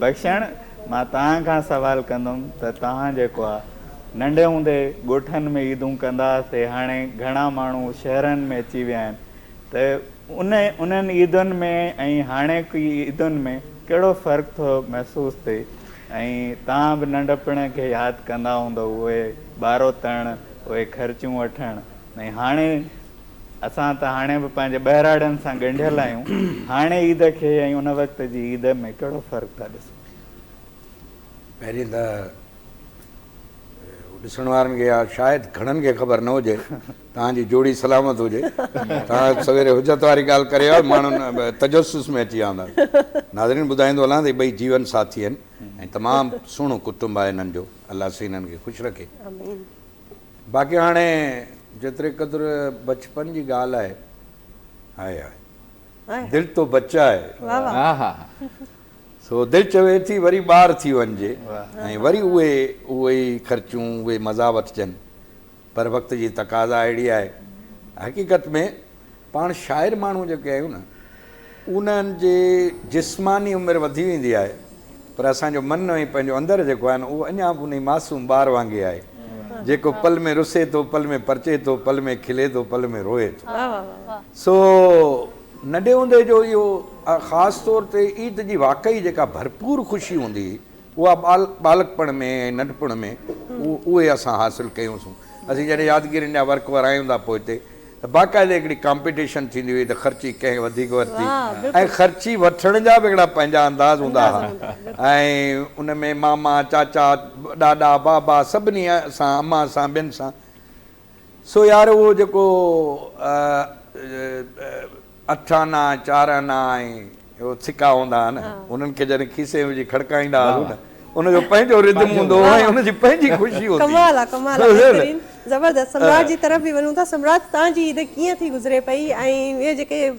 بخشڻ، مان توهان کان سوال ڪندم ته توهان جيڪو آ ننڍي هوندي ڳوٺن ۾ عيدون ڪندا هئاسي هاڻي گهڻا ماڻهو شهرن ۾ اچي ويا آهن ته ان انهن عيدن ۾ ۽ هاڻيڪي عيدن ۾ ڪهڙو فرق ٿو محسوس ٿئي ۽ توهان به ننڍپڻ کي ياد ڪندا هوندؤ اهي ٻارو تڻ اهي خرچيون وٺڻ ۽ هاڻي اسان ته هاڻي به پنهنجي ٻهراڙين سان ڳنڍيل آهيون، هاڻي عيد کي ۽ ان وقت جي عيد ۾ ڪهڙو فرق ٿا ڏسون؟ پهرين ته ڏسڻ وارن کي يا شايد گهڻن کي خبر نه هجي توهان جي جوڙي سلامت هجي توهان سويري حجت واري ڳالهه ڪري ويا ماڻهن تجسس ۾ اچي ويا هوندا ناظرين ٻڌائيندو هلان ته هي ٻئي جيون ساٿي آهن ۽ تمام سهڻو ڪٽنب آهي هنن جو الله سائين هنن کي خوش رکي آمين. باقي هاڻي جيتري قدر بچپن جي ڳالهه آهي هاء هاء دل تو بچا هي سو دل چوي ٿي وري ٻار ٿي وڃجي ۽ وري اهي اهي ئي خرچون اهي مزا وٺجن پر وقت جي تقاضا اهڙي آهي حقيقت ۾ پاڻ شاعر ماڻهو جيڪي آهيون نه انهن جي جسماني عمر وڌي ويندي آهي پر اسان جو من ۽ پنهنجو اندر جيڪو آهي نه اهو اڃا به انهي معصوم ٻار وانگي آهي جيڪو پل ۾ رسي ٿو پل ۾ پرچي ٿو پل ۾ کلي ٿو پل ۾ روئي ٿو سو ننڍي هوندي جو اهو خاص طور تي عيد جي واقعي جيڪا ڀرپور خوشي هوندي هئي اها ٻالڪپڻ ۾ ۽ ننڍپڻ ۾ اهي اسان حاصل ڪيونسون. اسين جڏهن يادگيرين جا ورق ورايون ٿا پوئتي ته باقاعده هڪڙي ڪامپيٽيشن ٿيندي هئي ته خرچي ڪنهن وڌيڪ ورتي ۽ خرچي وٺڻ جا به هڪڙا پنهنجا انداز هوندا ها ۽ ان ۾ ماما، چاچا، ڏاڏا، بابا سڀني سان، امان سان، ٻين سان. سو يار اهو جيڪو اٺ آنا، چار آنا ۽ اهو سڪا هوندا هئا نه، انهن کي جڏهن کيسي ۾ وجهي کڙڪائيندا هئاسون نه، ان جو پنهنجو ردم هوندو هو ۽ ان جي پنهنجي خوشي هوندي هئي. ڪمال آ ڪمال آ بهترين زبردست سمراٽ جي طرف به وڃون ٿا سمراٽ تان جي عيد ڪيئن ٿي گذري پئي ۽ اهي جيڪي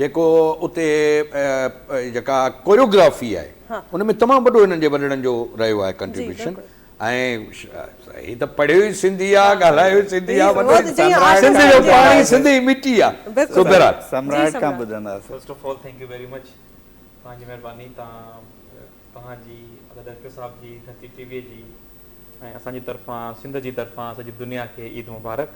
جيڪو اتي جيڪا ڪوريوگرافي آهي ان ۾ تمام وڏو هنن جي وڏڙن جو رهيو آهي ڪنٽريبيوشن ۽ هي ته پڙهيو ئي سنڌي آهي ڳالهايو ئي سنڌي آهي وڏو سنڌ جو پاڻي سنڌي ئي مٽي آهي سو بهرحال سمراٽ کان ٻڌنداسين first of all thank you very much تهان جي مهرباني تهان توهان جي ادا ڊائريڪٽر صاحب جي ڌرتي ٽي وي جي ۽ اسان جي طرفان سنڌ جي طرفان سڄي دنيا کي عيد مبارڪ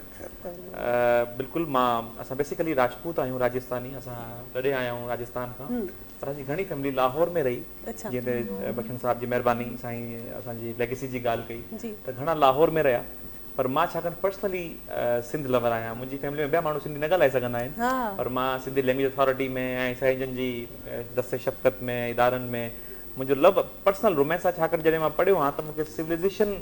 بلڪل مان اسان بيسيڪلي راجپوت آهيون راجستاني اسان ٽڏي آيا آهيون راجستان کان پر اسان جي گهڻي فيملي لاهور ۾ رهي جنهن تي بخشڻ صاحب جي مهرباني سائين اسان جي ليگسي جي ڳالهه ڪئي ته گهڻا لاهور ۾ رهيا پر مان ڇاڪاڻ پرسنلي سنڌ لور آهيان منهنجي فيملي ۾ ٻيا ماڻهو سنڌي نه ڳالهائي سگهندا آهن پر مان سنڌي لينگويج اٿارٽي ۾ ۽ سائين جن جي دست شفقت ۾ ادارن ۾ منهنجو لو پرسنل رومينس آهي ڇاڪاڻ جڏهن مان پڙهيو ها ته مون کي سوليزيشن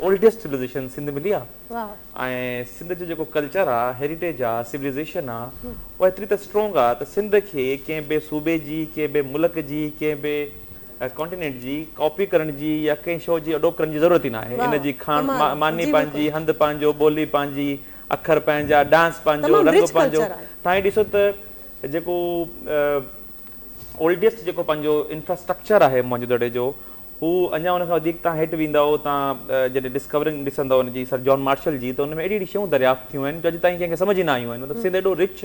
اولڊيسٽ سوليزيشن سنڌ ملي آهي ۽ سنڌ جو جيڪو ڪلچر آهي هيريٽيج آهي سوليزيشن آهي اها ايتري ته اسٽرونگ آهي ته سنڌ کي ڪنهن به صوبي جي ڪنهن به ملڪ جي ڪنهن به ۽ ڪانٽينينٽ جي ڪاپي ڪرڻ جي يا ڪنهن شو جي اڏوپ ڪرڻ جي ضرورت ئي ناهي. ان جي کاڻ ماني پنهنجي، هنڌ پنهنجو، ٻولي پنهنجي، اکر پنهنجا، ڊانس پنهنجو، رنگ پنهنجو. توهان هي ڏسو ته جيڪو اولڊيسٽ جيڪو پنهنجو انفراسٽرڪچر آهي موهنجو دڙي جو هو اڃا ان کان وڌيڪ توهان هيٺ ويندؤ توهان جڏهن ڊسڪورنگ ڏسندؤ ان جي سر جان مارشل جي ته ان ۾ اهڙي اهڙي شيون دريافت ٿيون آهن جو اڄ تائين ڪنهن کي سمجهه ئي نه آيون آهن. مطلب سنڌ ايڏو رچ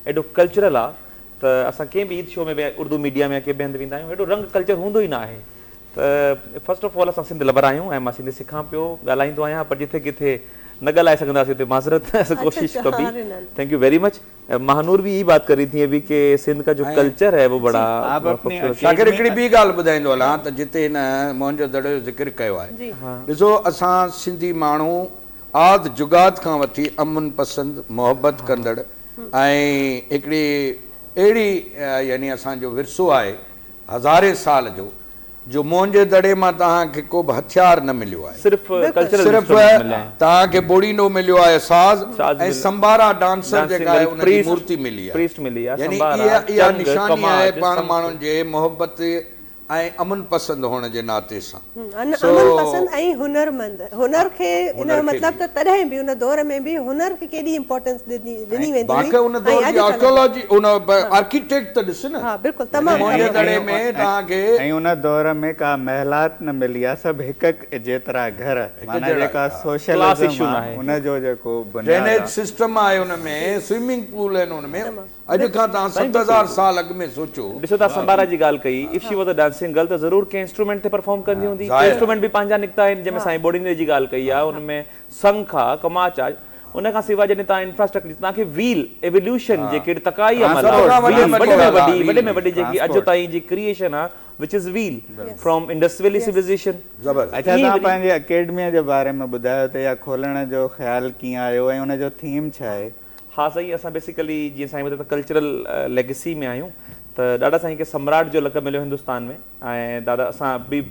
ايڏو ڪلچرل آهي. ته اسان ڪنهن به عيد شو ۾ به اردو ميڊيا ۾ يا ڪنهن به هنڌ ويندا آهيون اهڙو رنگ ڪلچر هوندو ئي نه آهي ته فرسٽ آف آل اسان سنڌ لور آهيون ۽ مان سنڌي سکان پيو ڳالهائيندو آهيان پر جٿي ڪٿي نه ڳالهائي سگهنداسين ته معذرت ڪوشش ڪبي thank you very much Mahanoor به اهي ئي بات ڪر رهي ٿي ابي ڪي سنڌ ڪا جو ڪلچر هي وو بڙا شاڪر هڪڙي ٻي ڳالهه ٻڌائيندو هلان ته جتي هن موهن جو دڙو جو ذڪر ڪيو آهي ڏسو اسان سنڌي ماڻهو آد جگاد کان وٺي امن پسند، محبت ڪندڙ ۽ هڪڙي اهڙي يعني اسان جو ورثو آهي هزارين سال جو جو منهنجي دڙي مان توهان کي ڪو به هٿيار نه مليو آهي. صرف ڪلچرل انسٽرومينٽ مليا آهن. توهان کي بوڙينو مليو آهي ساز ۽ سمبارا ڊانسر جيڪا آهي ان جي مورتي ملي آهي يعني اها نشاني آهي پاڻ ماڻهن جي محبت ۽ امن پسند هئڻ جي ناتي سان سو امن پسند ۽ هنر مند هنر کي ان جو مطلب ته تڏهن به ان دور ۾ به هنر کي ڪيڏي امپورٽنس ڏني ويندي هئي باقي ان دور جي آرڪيالاجي ان آرڪيٽيڪٽ ته ڏس نه ها بلڪل تمام مونجهي دڙي ۾ توهان کي. ۽ ان دور ۾ ڪا محلات نه ملي ها سڀ هڪ هڪ جيترا گهر معنيٰ جيڪا سوشلزم آهي ان جو جيڪو بنياد آهي. ڊرينيج سسٽم آهي ان ۾ سوئمنگ پول آهن ان ۾. اڄ کان تان ست هزار سال اڳ ۾ سوچو. ڏسو تان سمبارا جي ڳالهه ڪئي if she was a dancing girl ته ضرور ڪنهن انسٽرومينٽ تي پرفارم ڪندي هوندي ڪي انسٽرومينٽ به پنهنجا نڪتا آهن جنهن ۾ سائين ٻوڙيندي جي ڳالهه ڪئي آهي ان ۾ سنک آ ڪماچ آ ان کان سواء جڏهن تان انفراسٽرڪچر تان کي ويل ايوليوشن جيڪي ٽڪائي عمل آ ويل وڏي ۾ وڏي وڏي ۾ وڏي جيڪي اڄ تائين جي ڪريئشن آ which is well from Indus valley civilization اچا تان پنهنجي اڪيڊميء جي باري ۾ ٻڌايو ته اها کولڻ جو خيال ڪيئن آيو ۽ ان جو ٿيم ڇا آهي ها سائين اسان بيسيڪلي جيئن سائين ٻڌايو ته ڪلچرل ليگسي ۾ آهيون ته ڏاڏا سائين کي سمراٽ جو لقب مليو هندستان ۾ ۽ دادا اسان we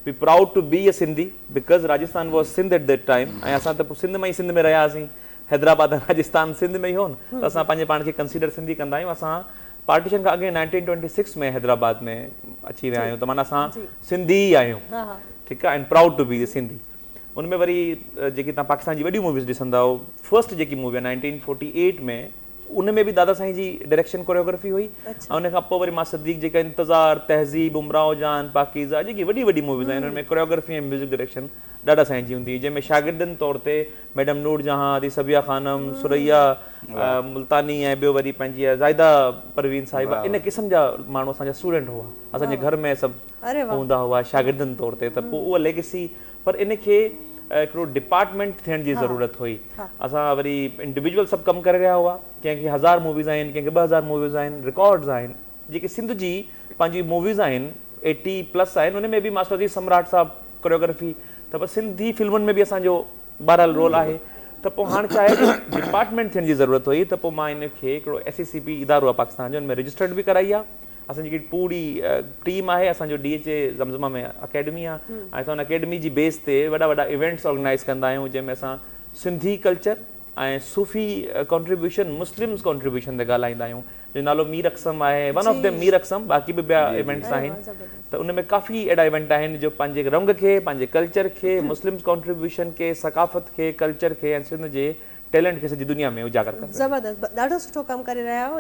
we proud to be a Sindhi because Rajasthan was Sindh at that time ۽ اسان ته پوء سنڌ مان ئي سنڌ ۾ رهيا هئاسين حيدرآباد ۽ راجستان سنڌ ۾ ئي هو نه ته اسان پنهنجي پاڻ کي ڪنسيڊر سنڌي ڪندا آهيون اسان پارٽيشن کان اڳي نائنٽين ٽوئنٽي سڪس ۾ حيدرآباد ۾ اچي ويا آهيون ته معنيٰ اسان سنڌي ئي آهيون ٺيڪ آهي and proud to be a Sindhi ان ۾ وري جيڪي تان پاڪستان جي وڏيون موويز ڏسنداؤ فرسٽ جيڪي مووي آهي نائنٽين فورٽي ايٽ ۾ ان ۾ به دادا سائين جي ڊائريڪشن ڪوريوگرافي هئي اڇا ان کان پوء وري مان صديق جيڪا انتظار تهذيب امراو جان پاڪيزا جيڪي وڏي وڏي موويز آهن ان ۾ ڪوريوگرافي ۽ ميوزڪ ڊائريڪشن ڏادا سائين جي هوندي هئي جنهن ۾ شاگردن طور تي ميڊم نور جهان ادي صبيا خانم ثريا ملتاني ۽ ٻيو وري پنهنجي زائده پروين صاحبه ان قسم جا ماڻهو اسان جا اسٽوڊنٽ هئا اسان جي گهر ۾ سڀ هوندا هئا شاگردن طور تي ته پوء اها ليگسي پر ان کي هڪڙو ڊپارٽمينٽ ٿيڻ جي ضرورت هئي اسان وري انڊيويجول سڀ ڪم ڪري رهيا هئا ڪنهن کي هزار موويز آهن ڪنهن کي ٻه هزار موويز آهن رڪارڊز آهن جيڪي سنڌ جي پنهنجي موويز آهن ايٽي پلس آهن ان ۾ به ماسٽر عزيز سمراٽ صاحب ڪوريوگرافي ته سنڌي فلمن ۾ به اسان جو بهرحال رول آهي ته پوء هاڻ ڇا آهي جو ڊپارٽمينٽ ٿيڻ جي ضرورت هئي ته پوء مان ان کي هڪڙو ايس اي سي پي ادارو آهي پاڪستان جو ان ۾ رجسٽرڊ به ڪرائي آهي اسان جي جيڪي پوري ٽيم آهي اسان جو D H A Zamzama ۾ academy آهي ۽ اسان ان اڪيڊمي جي بيس تي وڏا وڏا ايونٽس آرگنائيز ڪندا آهيون جنهن ۾ اسان سنڌي ڪلچر ۽ صوفي ڪانٽريبيوشن مسلمز ڪانٽريبيوشن تي ڳالهائيندا آهيون جو نالو مير اقسم آهي one of them Mir Aqsam باقي به ٻيا ايونٽس آهن ته ان ۾ ڪافي اهڙا ايونٽ آهن جو پنهنجي رنگ کي پنهنجي ڪلچر کي مسلم ڪانٽريبيوشن کي ثقافت کي ڪلچر کي ۽ سنڌ جي ٽيلنٽ کي سڄي دنيا ۾ اجاگر ڪن زبردست ڏاڍو سٺو ڪم ڪري رهيا آهيو.